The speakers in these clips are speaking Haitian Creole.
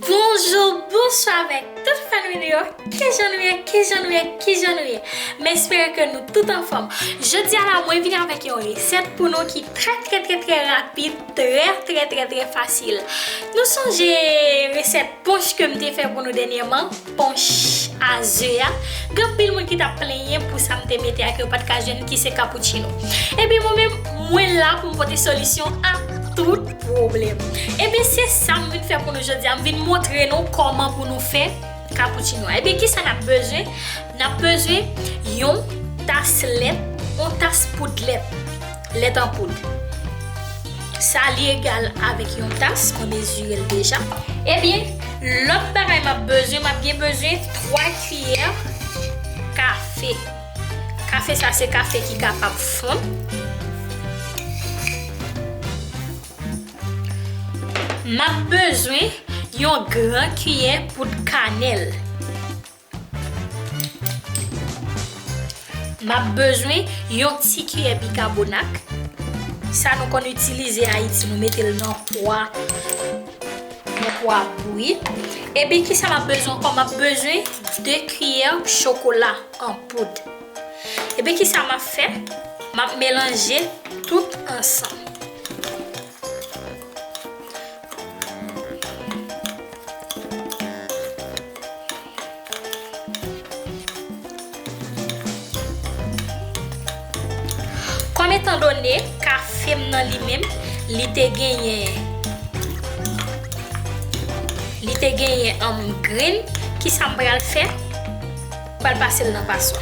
Bonjour, bonsoir avèk tout fèn nou yo, kijan nou ye, kijan nou ye, kijan nou ye? M espere ke nou tout anfòm. Jodi a la mwen vini avèk yon resèt pou nou ki trè trè trè trè rapid, trè trè trè trè fasil. Nou sonje resèt ponch ke m te fè pou nou dènyèman? Ponche a ze a, gen anpil moun ki tap plenyen pou sa m te mete a ke yo pat ka jwenn ki se cappuccino. Ebyen mwen menm, mwen la pou m pote solisyon a tout pwoblèm. Ebyen se sa m vin fè pou nou jodi a, m vin montre nou kòman pou nou fè cappuccino a. Ebyen ki sa nap bezwen? Nap bezwen yon tas lèt, yon tas poud lèt. Lèt an poud. Sa li egal avèk yon tas, mwen mezire l deja. Ebyen, lòt bagay m ap bezwen, m ap gen bezwen 3 kiyè kafe. Kafe sa se kafe ki kapab fonn. M ap bezwen yon gran kiyè poud kanèl. M ap bezwen yon ti kiyè bikabonak, sa nou konn itilize Ayiti, nou mete l nan pwa bouyi. Epi ki sa m ap bezwen ankò? M ap bezwen 2 kiyè chokola an poud. Epi ki sa m ap fè? M ap melanje tout ansanm. Kòm etan done kafe m nan li menm li te genyen li te genyen grenn, kisa m pral fè? M pral pase l nan paswa.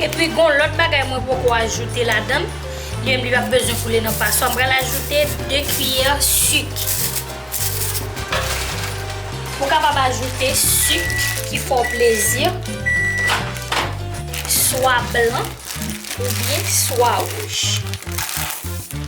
Epi gon lòt bagay mwen poko ajoute ladann, li menm li pap bezwen koule nan paswa, m pral ajoute 2 kiyè sik. Ou kapab ajoute sik ki fè w plezi, swa blan oubyen swa wouj.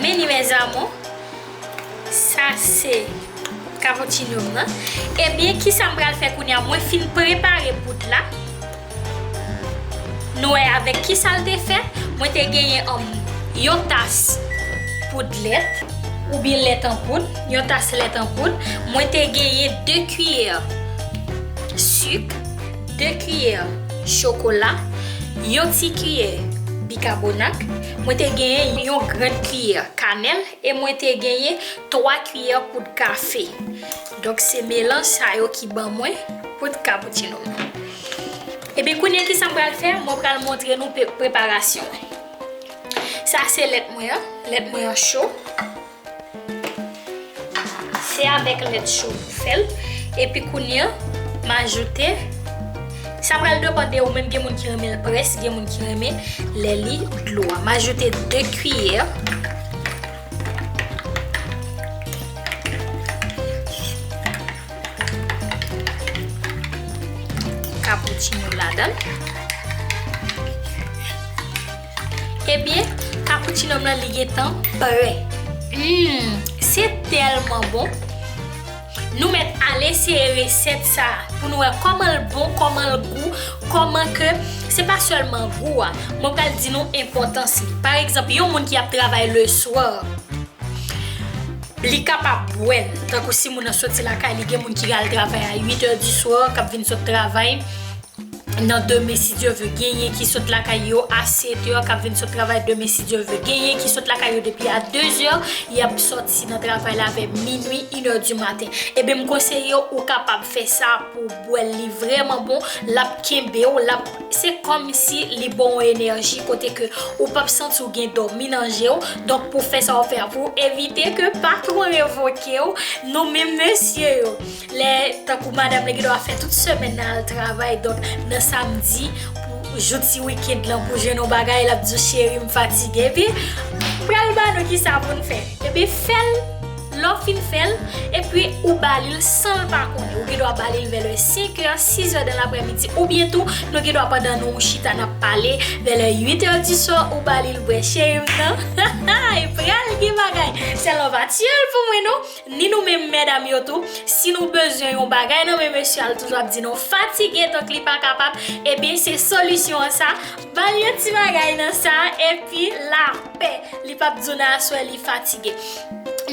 Men li mes amours. Sa se cappuccino m nan. Ebyen kisa m pral fè kounya mwen fin prepare poud la. Nou wè avèk kisa l te fèt. Mwen te genyen yon tas poud lèt oubyen lèt an poud. Yon tas lèt an poud. Mwen te genyen 2 kiyè sik. 2 kiyè chokola, yon ti kiyè bikabonak, mwen te genyen yon grenn kiyè kanèl e mwen te genyen 3 kiyè poud kafe. Donk se melanj sa yo ki ban mwen poud cappuccino m. Ebyen kounye kisa m pral fè, mwen pral montre nou preparasyon. Sa se lèt mwen an, lèt mwen an cho. Se avèk lèt cho pou fè l. Epi kounye an, m ajoute, sa pral depan de ou menm, gen moun ki renmen l près, gen moun ki renmen lè li dlo a. M ajoute 2 kiyè Cappuccino ladan l. Ebyen cappuccino m lan li gentan prè. Humm se tèlman bon Nou mèt al eseye resèt sa pou nou wè kòmanl bon kòmanl gou kòman ke se pa sèlman gou a mwen pral di nou enpòtans li pa egzanp yon moun ki ap travay le swè li kapab bwèl tankou si moun nan soti lakay li gen moun ki al travay a 8 è di swè kap vin sot travay nan demen si Dye ve genyen ki sot lakay yo a 7 èr kap vin sot travay demen si Dye ve genyen ki sot lakay yo depi a 2 èr yap soti nan travay la vè minwi 1 èr di maten eben m konseyew ou kapab fè sa pou w bwèl li vrèman bon lap kenbew lap se kòmsi li baw enèji kote ke ou pap santi w gen dòmi nan jew donk pou fè sa wap fè a pou evite ke patwon revokew nou menm mesye yo. Lè tankou madam li gendwa fè tout semèn nan al travay donk nan samdi pou jou ti weekend lan pou jwenn yon bagay lap di w cheri m fatige epi m pral ba nou kisa pou n fè epi fè l lè w fin fè l epi ou ba li l san l pa konnen ou gendwa ba li l vè lè 5 è 6 è dan lapremidi oubyen tou nou gendwa pandan nou chita nap pale vè lè 8 è di swa ou ba li l bwè cheri m nan ha ha pral gen bagay sèl w pa tiye l pou mwen non. Ni nou menm medam yo tou, si nou bezwen yon bagay nan men mesye a l toujou ap di nou fatige donk li pa kapab, ebyen se solisyon an sa, ba l yon ti bagay nan sa epi lapè, li p ap di w nan aswè li fatige.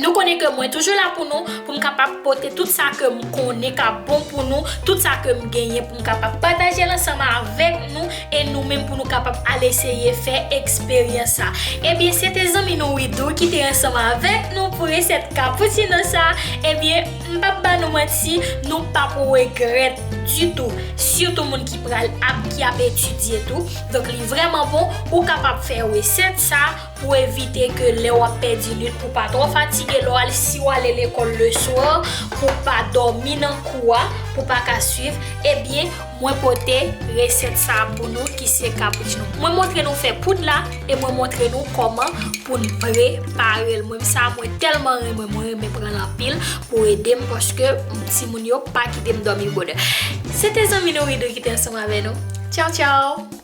Nou konnen ke mwen toujou la pou nou, pou m kapab pote tout sa ke m konnen k ap bon pou nou, tout sa ke m genyen pou m kapab pataje l ansanm avèk nou E nou menm pou nou kapab al eseye fè eksperyans sa. Ebyen se te zanmi nou Widoo ki te ansanm avèk nou pou resèt cappuccino sa, ebyen m pap ba nou manti nou pap regrèt ditou, sitou moun ki pral ap ki ap etidye tou, donk li vrèman bon ou kapab fè resèt sa pou evite ke lè wap fè di nwit pou pa twò fatige lè wal si wal lekòl le swa pou pa dòmi nan kou a pou pa ka swiv ebyen Mwen pote resèt sa pou nou ki se cappuccino. Mwen montre nou fè poud la e mwen montre nou kòman pou n prepare l. Mwen sa mwen tèlman renmen, mwen renmen pran l anpil pou ede m paske timoun yo pa kite m dòmi bonè. Se te zanmi nou Widoo ki te ansanm avè nou. Tchaw tchaw!